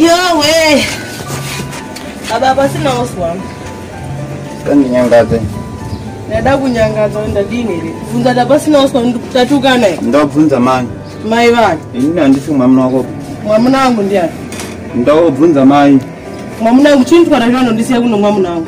yowe baba pasina oswam kandinyangadze ndada kunyangadza ndadini here bvunza ta pasina oswam tatukana here ndakubvunza mani mai vani ini handisi mwamuna wako mwamuna wangu ndiani ndakubvunza mai mwamuna wangu chini twara zvandondisiya kuno mwamuna wangu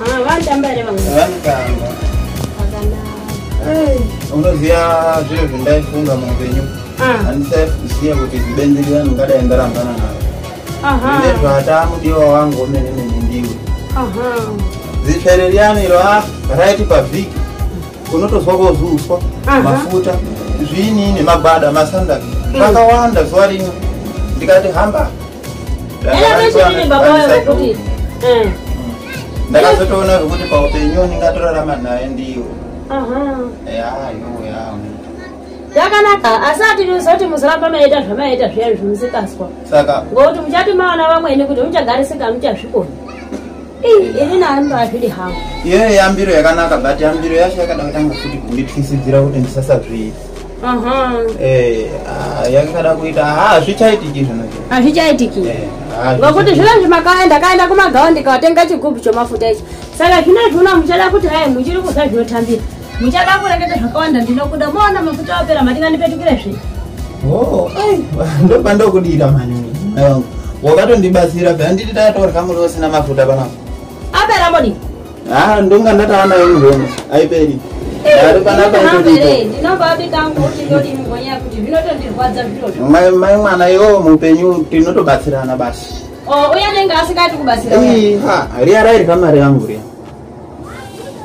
Ah, vanotamba here vamwe? vanotamba Vakanaka. unoziva zviro zvindaifunga muupenyu Ah, handisaiziva kuti zibenzi riyani ungadai ndarambana naro aha, nezvataa mudiwa wangu wemene mene ndiwe aha. zitsvere riyani iro a raiti pavhiki unotozwa kozuswa Aha. mafuta zviinini magwada masandaki zvakawanda zuva rimwe ndikati hamba eh. ndakazotoona zvekuti paupenyu ndingatorarama naye ndiyo yakanaka asi atiriuza kuti musaramba maita zvamaita zviya zvimusikaswa saka ngokuti muchati maona vamwene kuti muchagarisika muchazvikoni ini nani ndazvidi hangu iyoyo yambiro yakanaka but yambiro yacho yakada kutanga futi kunditwisidzira kuti ndisasazviita Eh, ah, yakada kuita hazvichaitiki ah, zvinoizvi hazvichaitiki eh, ah, ngokuti zvino izvi makaya ndakaenda kumagawa ndikawatenga chigubhu chomafuta ichi saka zvino izvi uno muchada kuti hai muchiri kuza zvinotambira muchada kureketa zvakawanda ndinokuda moona mafuta wapera matingandipetukire zve oh, ndoba ndokudira mani wakatondibatsira pea nditi tatorya muri usina mafuta panapa apera modi Ah, ndonga ndatava nayo muhono haiperi ari panapa mai mwana iwo mupenyu tinotobatsirana basi oh, uye anenge asingati kubatsira riya rairya mari yangu riya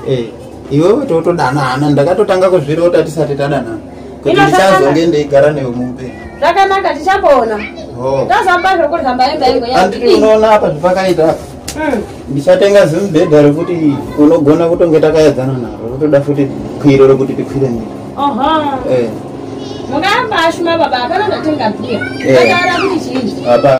eh, iwewe totodanana ndakatotanga kuzvirota tisati tadanana kuti ndichazonge ndeigara newe muupenyu zvakanaka tichapoona oh. tazamba zvokuramba emba yangu yanditi unoona apa zvipakaita apa Hmm. ndichatenga zimubhedha rekuti unogona kutonge takayadzana naro rotoda futi kwiro rekuti tikwire niro eh. mungamba ashuma baba hapana ndatenga bia eh. akaara kuti chii